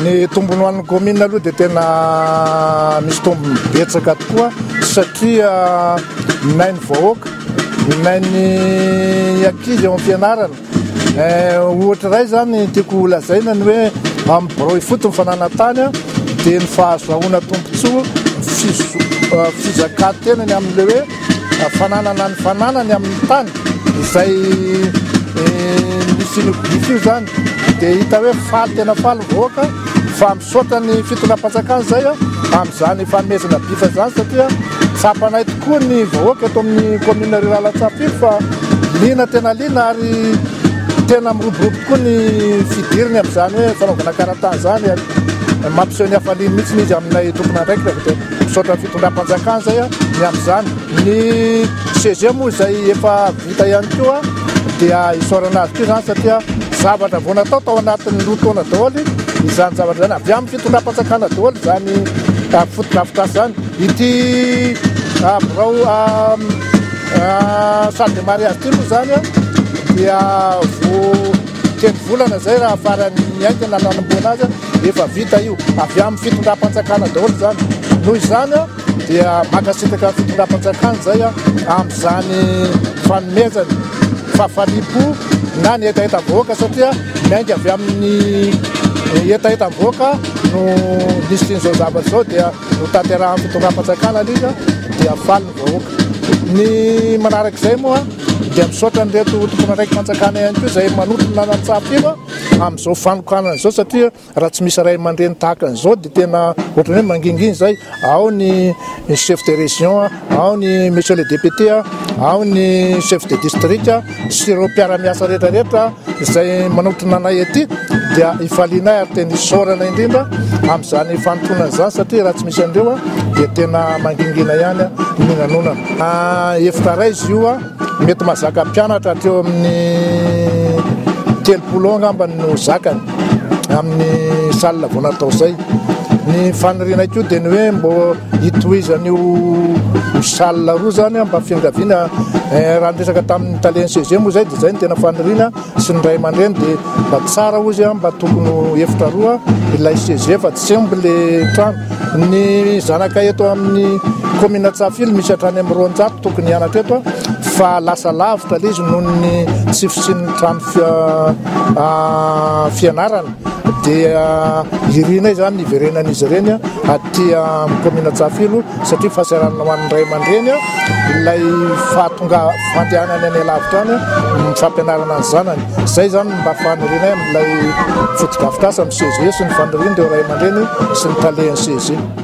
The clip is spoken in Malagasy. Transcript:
Ny tombony ho an'ny commune aloha dia tena misy tombony betsaka tokoa satria minainy vahoaka, minainy ankizy ao am-pianarana. Eh, ohatra iray zany tiako holazaina ny hoe amin'ny birao ifotony fananantany dia ny fahazoahoana tombontsoa ny fizo- eh, fizakan-tenany amin'ilay hoe fananana ny fananany amin'ny tany izay nisian'io gidro io izany dia hita hoe faly tena faly ny vahoaka fa misaotra ny fitondram-panjakana izay amin'izany fanomezana bisa izany satria tsapanay tokoa ny vahoaka eto amin'ny commune rurale Antsahafito fa liana tena liana ary tena miroborobo tokoa ny fidiriny amin'izany hoe fanaovana karatany izany ary mampiseho ny hafaliany mihitsy izy aminay tomponandraikitra avy eto. Misaotra ny fitondram-panjakana izay ny amin'izany. Ny CG moa izay efa vita ihany koa dia isaorana azy ity izany satria zavatra vao natao tao anatin'ny roa taona daholo izany zavatra izany. Avy amin'ny fitondram-panjakana daholo izany fotodrafitrasa izany. Ity birao salle de mariage ity moa izany dia vao telo volana izay raha farany ny aingana nanamboana azy. Efa vita io, avy amin'ny fitondram-panjakana daholo izany. Noho izany dia mankasitraka ny fitondram-panjakana izay amin'izany fanomezany fahafaliam-po na ny hetahetam-bahoaka satria miainga avy amin'ny hetahetam-bahoaka no nisian'izao zavatra izao dia notanterahan'ny fitondram-panjakana alika dia faly ny vahoaka. Ny manarak'izay moa dia misaotra an'ireto tomponandraiki-panjakana ihany koa izay manotona nantsapy io. amin'izao fanokanana izao satria raha tsy misy ray aman-dreny tahaka an'izao dia tena ohatran'ny hoe mangingina izay ao ny chef de région ao ny monsieur le député ao ny chef de district sy ireo mpiara-miasa rehetra rehetra izay manotrona anay aty dia ifalianay ary tena isaorana indrindra amin'izany fanotonana izany satria raha tsy misy an'ireo dia tena mangingina ihany ny nanonana ah, efitra ray izy io Mety mazaka mpianatra hatreo amin'ny telopolo eo angambany no zakany amin'ny salle vao natao izay. Ny fanirianay koa dia ny hoe mbo hitohizan'io salle roa zany mba fiangaviana eh, raha niresaka tamin'ny talen'ny CG moa izay dia izay ny tena faniriana sy ny ray aman-dreny dia mba tsara hozy a mba tokony ho efitra roa ilay CEG fa tsy sembo le trano. Ny zanaka eto amin'ny commune Tsafily misy hatrany amin'ny roanjato tokony hianatra eto fa lasa lavitra le izy noho ny tsy fisian'ny trano fianarana. dia irinay izany ny hiverenan'izy ireny aty amin'ny kaominina Antsahafeno satria fahasahiranana ho an'ny ray aman-dreny ilay fahatonga fandehanany any alavitra any ny fampianarana ny zanany. Izay izany mba fanirianay amin'ilay fotodrafitrasa amin'ny CEG sy ny fanirian'ireo ray aman-dreny sy ny talen'ny CEG.